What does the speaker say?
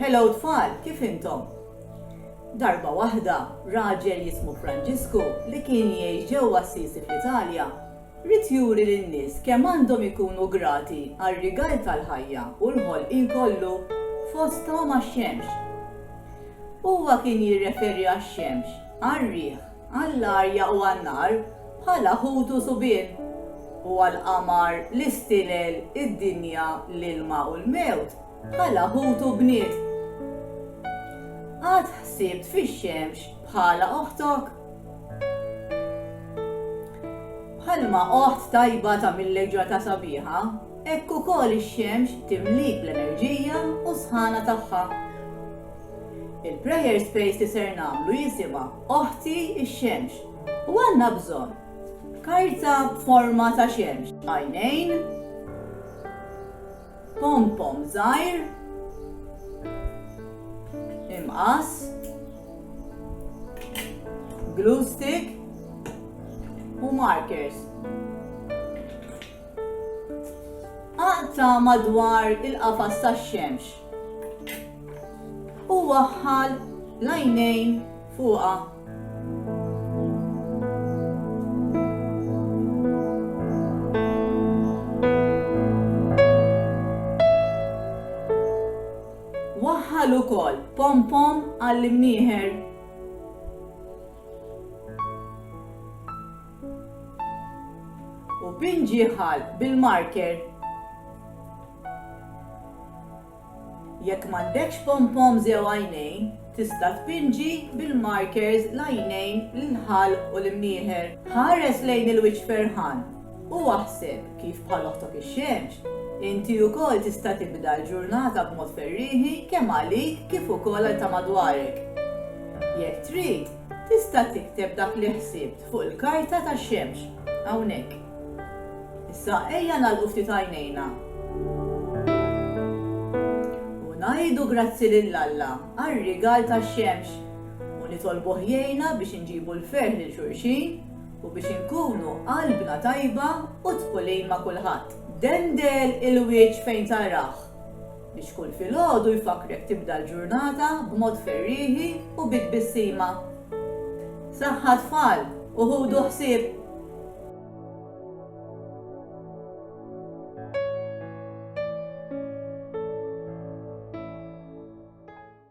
Hello tfal, kif intom? Darba waħda, raġel jismu Franġisku li kien jgħix ġewwa Assisi fl-Italja, ried juri lin-nies kemm għandhom ikunu grati għar-rigal tal-ħajja u l-ħolqien kollu, fosthom għax-xemx. Huwa kien jirreferi għax-xemx, għar-riħ, għall-arja u għan-nar bħala ħut u subien, u għall-qamar, l-istilel, id-dinja, l-ilma u l-mewt bħala ħut u bniet. Qatt ħsibt fix-xemx bħala oħtok? Bħalma oħt tajba ta' mill-leġġata sabiħa, hekk ukoll ix-xemx timlik l-enerġija u s-sħana tagħha. Il-prayer space li ser nagħmlu jisimha Oħti x-Xemx u għandna bżonn karta b'forma ta' xemx, għajnejn, pompom żgħir, imqas, glue stick, u markers. Aqta madwar il-qafas tax-xemx. U waħħal l-għajnejn fuqha. Waħħal ukoll pom pom għall-imnieħer. U pinġiħal bil-marker Jekk m'għandekx pom-poms jew għajnejn, tista' tpinġi bil-markers l-għajnejn, l-ħalq u l-imnieħer. Ħares lejn il-wiċċ ferħan u aħseb kif bħal oħtok ix-xemx, inti wkoll tista' tibda l-ġurnata b'mod ferrieħi kemm għalik kif ukoll għal ta' madwarek. Jekk trid, tista' tikteb dak li ħsibt fuq il-karta tax-xemx, hawnhekk. Issa ejja nagħlqu ftit għajnejna u ngħidu grazzi lil Alla għar-rigal tax-xemx u nitolbuh jgħinna biex inġibu l-ferħ lil xulxin u biex inkunu qalbna tajba u dħulin ma' kulħadd. Dendel il-wieġ fejn tarah. Biex kull filgħodu jfakkrek tibda l-ġurnata b'mod ferrieħi u bi tbissima. Saħħa tfal u ħudu ħsieb!